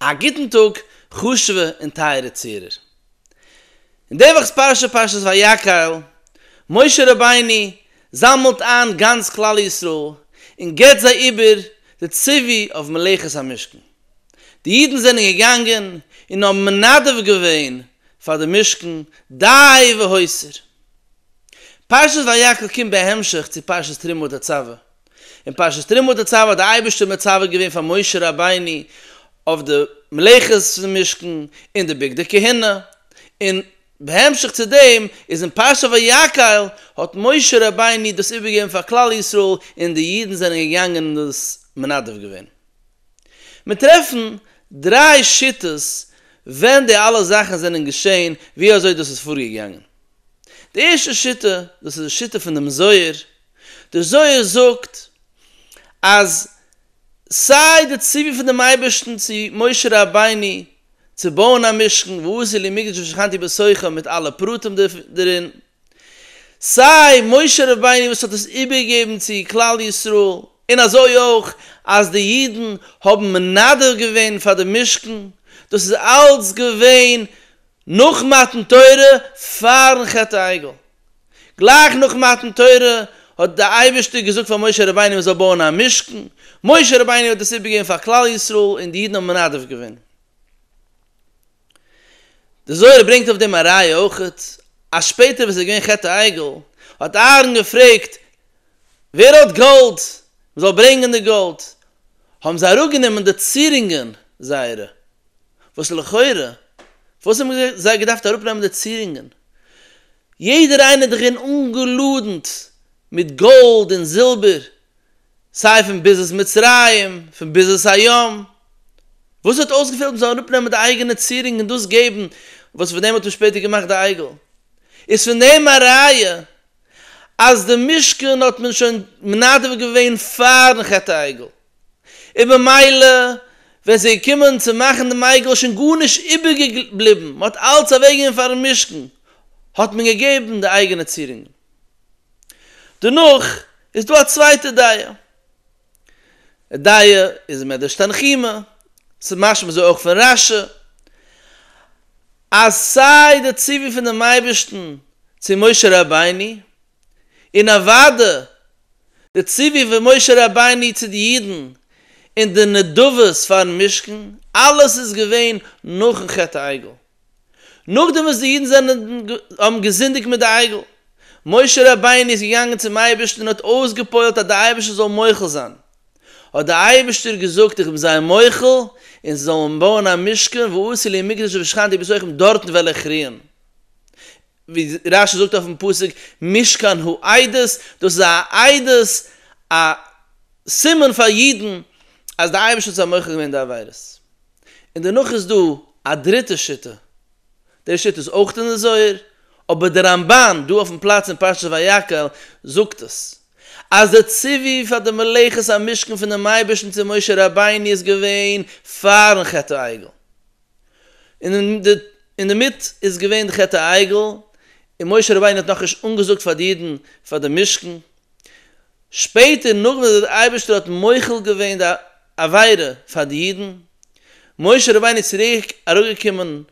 א גוטן טאג חשוב'ע און טייערע צוהערער. אין די וואכ'ס פרשה פרשת ויקהל, משה רבינו זאמעלט איין גאנץ כלל ישראל און געבט זיי איבער די ציווי אויף מלאכת המשכן. די אידן זענען געגאנגען און האבן מנדב געווען פאר די משכן דאהי והוסר. פרשת ויקהל קומט בהמשך צו פרשת תרומה ותצווה, אין פרשת תרומה תצוה האט די אייבערשטער מצווה געווען פאר משה רבינו אויף די מלאכות פון משכן און די בגדי כהונה, און בהמשך צו דעם איז אין פרשת ויקהל האט משה רבינו דאס איבערגעגעבן פאר כלל ישראל און די אידן זענען געגאנגען און דאס מנדב געווען. מיר טרעפן דריי שיטות ווען די אלע זאכן זענען געשען ווי אזוי דאס איז פארגעגאנגען. די ערשטע שיטה, דאס איז די שיטה פון דעם זוהר, דער זוהר זאגט אז סיי די ציווי פון דעם אייבערשטן צו משה רבינו צו בויען א משכן ועשה לי מקדש ושכנתי בתוכם מיט אלע פרטים דערין, סיי משה רבינו וואס האט עס איבערגעגעבן צו כלל ישראל, און אזוי אויך אז די אידן האבן מנדב געווען פאר דעם משכן, דאס איז אלץ געווען נאך מתן תורה פאר'ן חטא העגל. גלייך נאך מתן תורה האט דער אייבערשטער געזאגט פאר משה רבינו ער זאל בויען א משכן, משה רבינו האט דאס איבערגעגעבן פאר כלל ישראל און די אידן האבן מנדב געווען. דער זוהר ברענגט אויף דעם א ראיה אויך, אז שפעטער ווען עס איז געווען חטא העגל האט אהרן געפרעגט ווער האט גאלד מען זאל ברענגען די גאלד, האבן זיי אראפגענומען די צירונגען זייערע וואס לכאורה וואס האבן זיי געדארפט אראפנעמען די צירונגען? יעדער איינער דאך אין אנגעלאדנט מיט גאלד און זילבער סיי פון ביזת מצרים פון ביזת הים, וואס האט אויסגעפעלט מען זאל אראפנעמען די אייגענע צירונג און דאס געבן וואס פון דעם האט מען שפעטער געמאכט די עגל? איז פון דעם א ראיה אז די משכן האט מען שוין מנדב געווען פארן חטא העגל? און במילא ווען ס'איז געקומען צו מאכן דעם עגל איז שוין גארנישט איבערגעבליבן, מען האט אלץ אוועקגעגעבן פארן משכן האט מען געגעבן די אייגענע צירונגען. דערנאך איז דא א צווייטע דעה, די דעה איז מדרש תנחומא, ס'איז משמע אזוי אויך פון רש י, אז סיי די ציווי פונעם אייבערשטן צו משה רבינו, און אוואדע די ציווי פון משה רבינו צו די אידן און די נדבות פארן משכן, אלעס איז געווען נאכן חטא העגל. נאכדעם וואס די אידן זענען האבן געזינדיגט מיט די עגל, משה רבינו איז געגאנגען צום אייבערשטן און האט אויסגע'פועל'ט אז די אייבערשטער זאל מוחל זיין, האט די אייבערשטער געזאגט איך בין זיי מוחל און זיי זאלן בויען א משכן, ועשי לי מקדש ושכנתי בתוכם דארטן וועל איך רוען. ווי רש י זאגט אויפן פסוק משכן הוא עדות, דאס איז א עדות, א סימן פאר אידן אז די אייבערשטער האט זיי מוחל געווען די עבירות. און דערנאך איז דא א דריטע שיטה, די שיטה איז אויך אין די זוהר, אבער די רמב ן דא אויפן פלאץ אין פרשת ויקהל זאגט עס, אז די ציווי פאר די מלאכת המשכן פונעם אייבערשטן צו משה רבינו איז געווען פארן חטא העגל, און דערמיט איז געווען חטא העגל, און משה רבינו האט נאכנישט אנגעזאגט פאר די אידן פאר דעם משכן, שפעטער נאך וואס דער אייבערשטער האט מוחל געווען די עבירה פאר די אידן, משה רבינו איז צוריק אראפגעקומען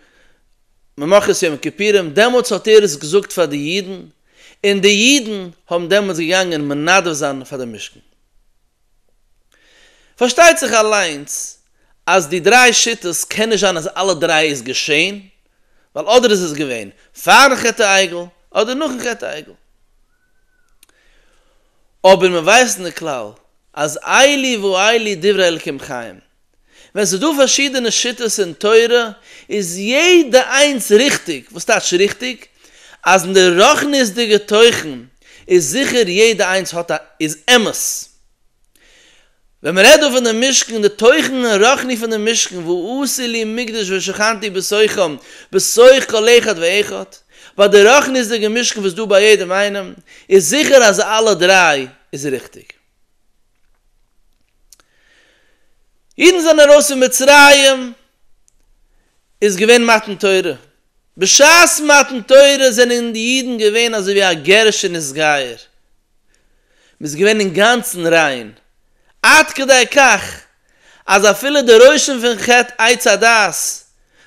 ממחרת יום הכיפורים, דעמאלטס האט ער עס געזאגט פאר די אידן, און די אידן האבן דעמאלטס געגאנגען מנדב זיין פאר דעם משכן. פארשטייט זיך אליינס אז די דריי שיטות קען נישט זיין אז אלע דריי איז געשעהן, ווייל אדער איז עס געווען פארן חטא העגל אדער נאכן חטא העגל. אבער מ'ווייסט אין די כלל אז איילי ואיילי דברי אלקים חיים, ווען ס'איז דא פארשידענע שיטות אין תורה איז יעדע איינס ריכטיג, וואס טייטש ריכטיג? אז אין די רוחניות'דיגע תוכן איז זיכער יעדע איינס האט א איז אמת. ווען מ'רעדט דא פון די משכן, די תוכן הרוחני פון די משכן, ועשי לי מקדש ושכנתי בתוכם, בתוך כל אחד ואחד, ביי די רוחניות'דיגע משכן וואס איז דא ביי יעדעם איינעם, איז זיכער אז אלע דריי איז ריכטיג. אידן זענען ארויס פון מצרים איז געווען מתן תורה, בשעת מתן תורה זענען די אידן געווען אזוי ווי א גערישע נישט-גייער, מען איז געווען אינגאנצן ריין, עד כדי כך אז אפילו די רושם פון חטא עץ הדעת,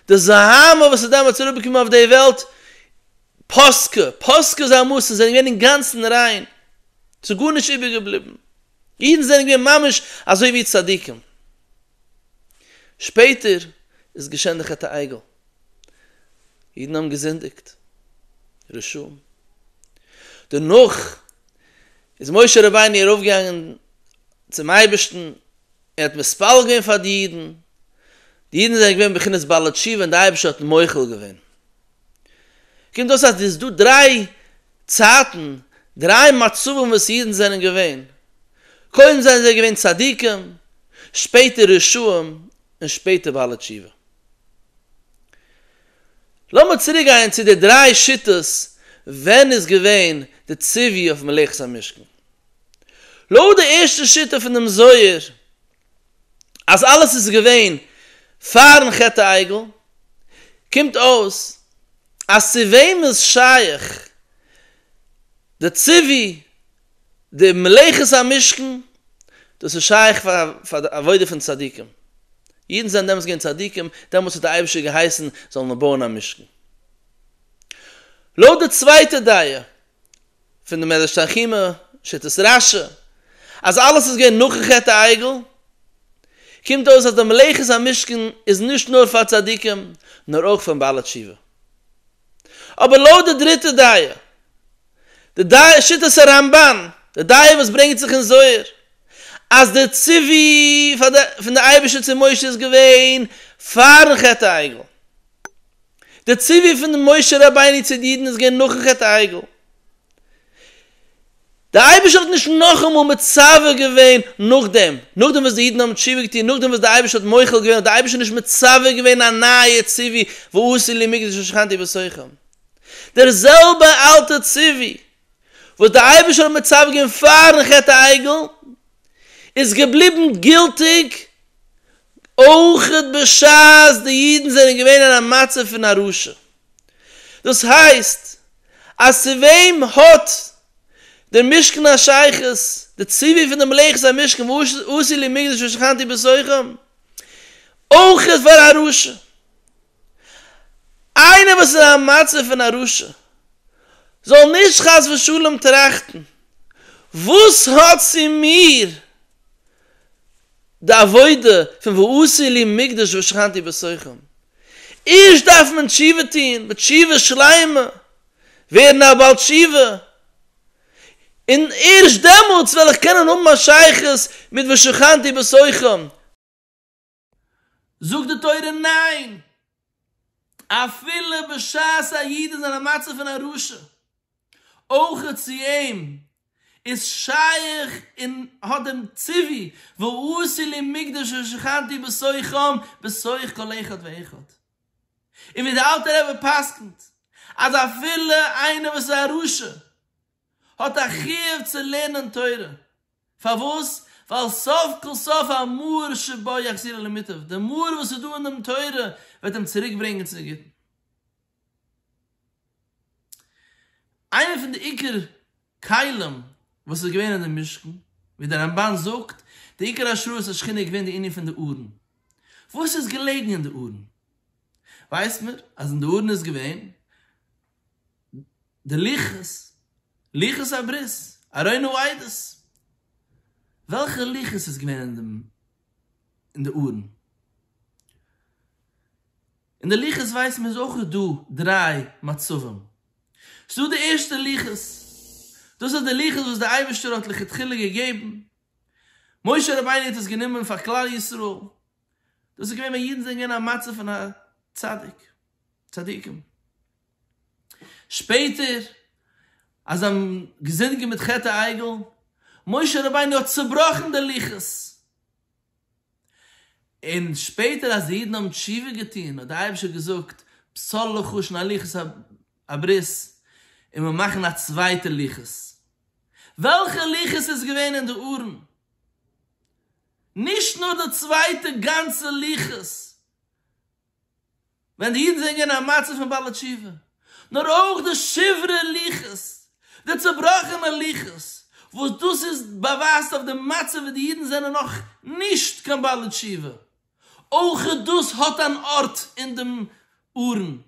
די זוהמה וואס איז דעמאלטס אראפגעקומען אויף די וועלט, פּאַסקע, פּאַסקע זײַן מאָסן זענען געװען אינגאַנצן רײן, ס'איז גאָרנישט איבערגעבליבן. ייִדן זענען געװען ממש אַזױ װי צדיקים. שפּעטער איז געשען די חטא העגל. ייִדן האָבן געזינדיקט. רשעים. דערנאָך איז משה רבינו אַרױפֿגעגאַנגען צום אײבערשטן, ער האָט מתפּלל געװען פֿאַר די ייִדן. די ייִדן זענען געװען בבחינת בעלי-תּשובֿה און דער אײבערשטער האָט מוחל געװען. קומט אויס אז עס איז דא דריי צייטן, דריי מצבים וואס אידן זענען געווען, קודם זענען זיי געווען צדיקים, שפעטער רשעים, און שפעטער בעלי תשובה. לאמיר צוריק גיין צו די דריי שיטות ווען איז געווען די ציווי אויף מלאכת המשכן. לויט די ערשטע שיטה פון דעם זוהר אז אלעס איז געווען פארן חטא העגל, קומט אויס אז צו וועם איז שייך די ציווי די מלאכת המשכן, דאס איז שייך פאר די עבודה פון צדיקים, אידן זענען דעמאלס געווען צדיקים, דעמאלס האט די אייבערשטער געהייסן זאלן מיר בויען א משכן. לויט די צווייטע דעה פון די מדרש תנחומא, שיטת רשי, אז אלעס איז געווען נאכן חטא העגל, קומט אויס אז די מלאכת המשכן איז נישט נאר פאר צדיקים, נאר אויך פאר בעלי תשובה. אבער לויט די דריטע דעה, די דעה שיטת הרמבן, די דעה וואס ברענגט זיך אין זוהר, אז די ציווי פון די אייבערשטער צו משה איז געווען פארן חטא העגל, דער ציווי פון משה רבינו צו די אידן איז געווען נאכן חטא העגל. דער אייבערשטער האט נישט נאכאמאל מצווה געווען נאכדעם, נאכדעם וואס די אידן האבן תשובה געטון, נאכדעם וואס דער אייבערשטער האט מוחל געווען, האט דער אייבערשטער נישט מצווה געווען א נייע ציווי, ועשו לי מקדש ושכנתי בתוכם. דער זעלבער אלטער ציווי וואס דער אייבערשטער האט מצוה געווען פאר'ן חטא העגל, איז געבליבן גילטיג אויך בשעת די אידן זענען געווען אין א מצב פון א רשע. דאס הייסט אז צו וועם האט דער משכן א שייכות? די ציווי פון די מלאכת המשכן ועשי לי מקדש ושכנתי בתוכם, אויך פאר א רשע. איינער וואס איז אין א מצב פון א רשע זאל נישט חס ושלום טראכטן וואס האט צו מיר די עבודה פון ועשי לי מקדש ושכנתי בתוכם, ערשט דארף מען תשובה טון ותשובה שלימה, ווערן א בעל תשובה, און ערשט דעמאלטס וועל איך קענען האבן א שייכות מיט ושכנתי בתוכם. זאגט די תורה ניין! אפילו בשעת א איד איז אין א מצב פון א רשע, אויך צו אים איז שייך און האט דעם ציווי ועשי לי מקדש ושכנתי בתוכם בתוך כל אחד ואחד. און ווי דער אלטער רבי פסק'נט אז אפילו איינער וואס איז א רשע האט א חיוב צו לערנען תורה, פארוואס? ווייל סוף כל סוף המאור שבו יחזירו למיטב, די מאור וואס איז דא אין דעם תורה וועט אים צוריק ברענגען צו די גוטן. איינער פון די עיקר כלים וואס איז געווען אין די משכן, ווי די רמבן זאגט, די עיקר השראת השכינה איז געווען די ענין פון די ארון, וואס איז געלעגן אין די ארון? ווייסט מען אז אין די ארון איז געווען די לוחות, לוחות הברית, ארוינו עדות, וועלכע לוחות איז געווען אין דעם אין די ארון? אין די לוחות ווייסן מיר איז אויך דא דריי מצבים, ס'דא די ערשטע לוחות, דאס איז די לוחות וואס דער אייבערשטער האט לכתחילה געגעבן, משה רבינו האט עס גענומען פאר כלל ישראל, דאס איז געווען ווען אידן זענען געווען אין א מצב פון א צדיק, צדיקים. שפעטער אז זיי האבן געזינדיגט מיט חטא העגל, משה רבינו האט צובראכן די לוחות, און שפעטער אז די אידן האבן תשובה געטון האט דער אייבערשטער געזאגט פסול לוחות און א לוחות הברית און מיר מאכן א צווייטע לוחות. וועלכע לוחות איז געווען אין די ארון? נישט נאר די צווייטע גאנצע לוחות ווען די אידן זענען געווען אין א מצב פון בעלי תשובה, נאר אויך די שברי לוחות, די צובראכענע לוחות, וואס דאס איז באווייזט אויף די מצב ווי די אידן זענען נאך נישט קיין בעלי תשובה, אויך דאס האט אן ארט אין דעם ארון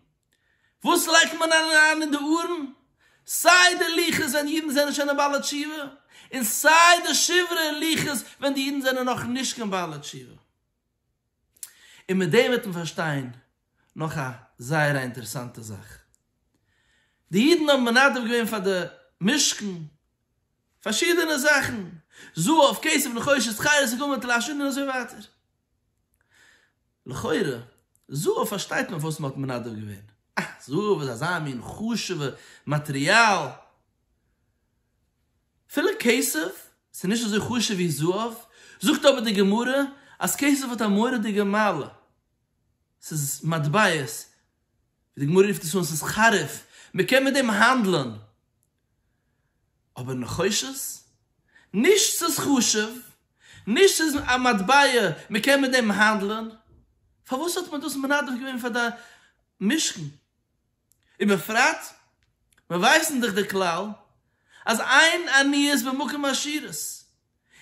וואס לייגט מען אריין אין די ארון? סיי די לוחות ווען די אידן זענען שוין א בעלי תשובה, און סיי די שברי לוחות ווען די אידן זענען נאך נישט קיין בעלי תשובה. און מיט דעם וועט מען פארשטיין נאך א זייער א אינטערעסאנטע זאך. די אידן האבן מנדב געווען פאר די משכן פארשידענע זאכן, זהב, כסף, נחושת, חיות, ס'געקומען טלאשען און אזוי ווייטער. לכאורה, זהב פארשטייט מען פארוואס מען האט מנדב געווען. אה, זהב איז אזא מין חשוב'ע מאטריאל. אפילו כסף איז נישט אזוי חשוב ווי זהב, זאגט אבער די גמרא אז כסף האט א מורא'דיגע מעלה. ס'איז מטבעות, ווי די גמרא רופט עס אן, ס'איז חריף, מען קען מיט דעם האנדלען. אבער נחושת? נישט ס'איז חשוב, נישט ס'איז א מטבע מ'קען מיט דעם האנדלען, פארוואס האט מען דאס מנדב געווען פאר די משכן? ובפרט מיר ווייסן דאך די כלל אז אין עניות במקום עשירות,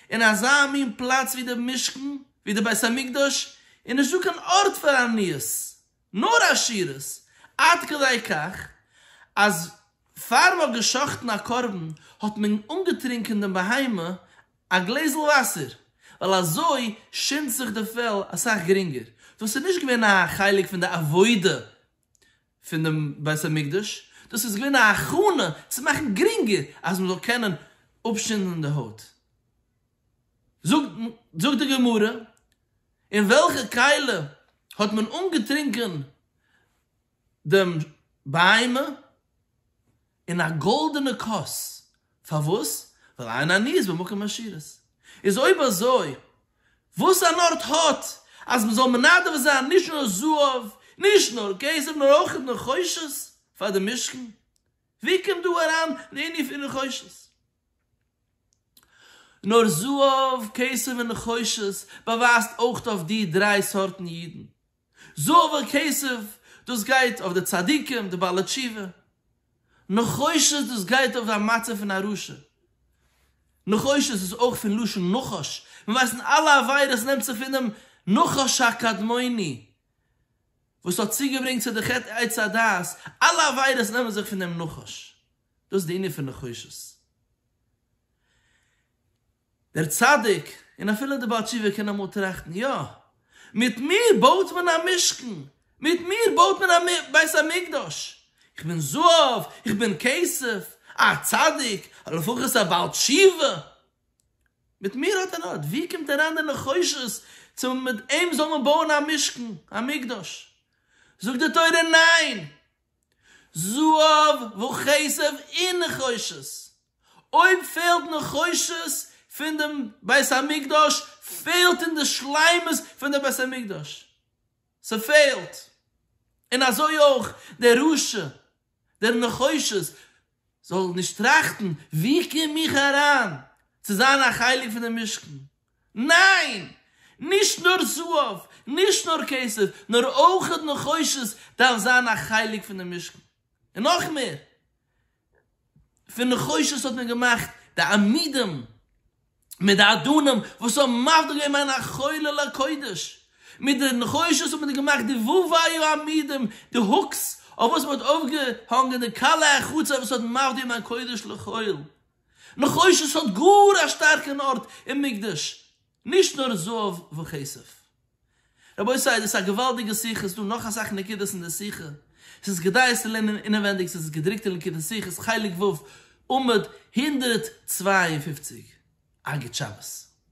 אין אזא מין פלאץ ווי די משכן, ווי די בית המקדש, איז נישטא קיין ארט פאר עניות, נאר עשירות, עד כדי כך אז פאר מ'האט גע'שחט'ן א קרבן האט מען אנגעטרינקען דעם בהמה א גלעזל וואסער, ווייל אזוי שינדט זיך די פעל אסאך גרינגער. דאס איז נישט געווען א חלק פון די עבודה פון דעם בית המקדש, דאס איז געווען א הכנה צו מאכן גרינגער אז מ'זאל קענען אפשינדן די הויט. זאגט די גמרא, אין וועלכע קעלער האט מען אנגעטרינקען דעם בהמה? אין א גאלדענע כוס, פארוואס? ווייל אין עניות במקום עשירות. איז אויב אזוי, וואס אן ארט האט אז מען זאל מנדב זיין נישט נאר זהב, נישט נאר כסף, נאר אויך נחושת פאר די משכן? ווי קומט דא אריין די ענין פון נחושת? נאר זהב, כסף און נחושת באווייזט אויך אויף די דריי סארטן אידן. זהב און כסף, דאס גייט אויף די צדיקים, די בעלי תשובה. נחושת, דאס גייט אויף די מצב פון א רשע. נחושת איז אויך פון לשון נחש, מיר ווייסן אלע עבירות נעמט זיך פונעם נחש הקדמוני וואס האט צוגעברענגט צו די חטא עץ הדעת, אלע עבירות נעמען זיך פון דעם נחש. דאס איז די ענין פון נחושת. דער צדיק, און אפילו דער בעל תשובה קען אמאל טראכטן, יא, מיט מיר בויט מען א משכן, מיט מיר בויט מען א בית המקדש, איך בין זהב, איך בין כסף, א צדיק, או לפחות א בעל תשובה, מיט מיר האט ער ארט. ווי קומט אריין די נחושת צו מיט אים זאל מען בויען א משכן, א מקדש? זאגט די תורה, ניין! זהב וכסף און נחושת, אויב פעלט נחושת פון דעם בית המקדש פעלט אין די שלימות פון דער בית המקדש, ס'פעלט, און אזוי אויך דער רשע דער נחושת זאל נישט טראכטן ווי קום איך אריין צו זיין א חלק פון דעם משכן, ניין! נישט נאר זהב, נישט נאר כסף, נאר אויך נחושת דארף זיין א חלק פונעם משכן. און נאך מער, פון נחושת האט מען געמאכט די עמודים מיט די אדנים וואס האבן מבדיל געווען בין החולה לקודש. מיט די נחושת האט מען געמאכט די ו' וי' עמודים, די הוקס אויף וואס מען האט אויפגעהאנגען די כלה החוצה וואס האט מבדיל געווען בין קודש לחול. נחושת האט גאר א שטארקן ארט אין מקדש, נישט נאר זהב וכסף. רבותי דאס איז א געוואלדיגע שיחה, עס איז דא נאך אסאך נקודות אין די שיחה, עס איז כדאי עס צו לערנען אינעווענדיג, עס איז געדרוקט אין ליקוטי שיחות חלק ו' עמוד הונדערט צוויי און פופציג, אגד שבת.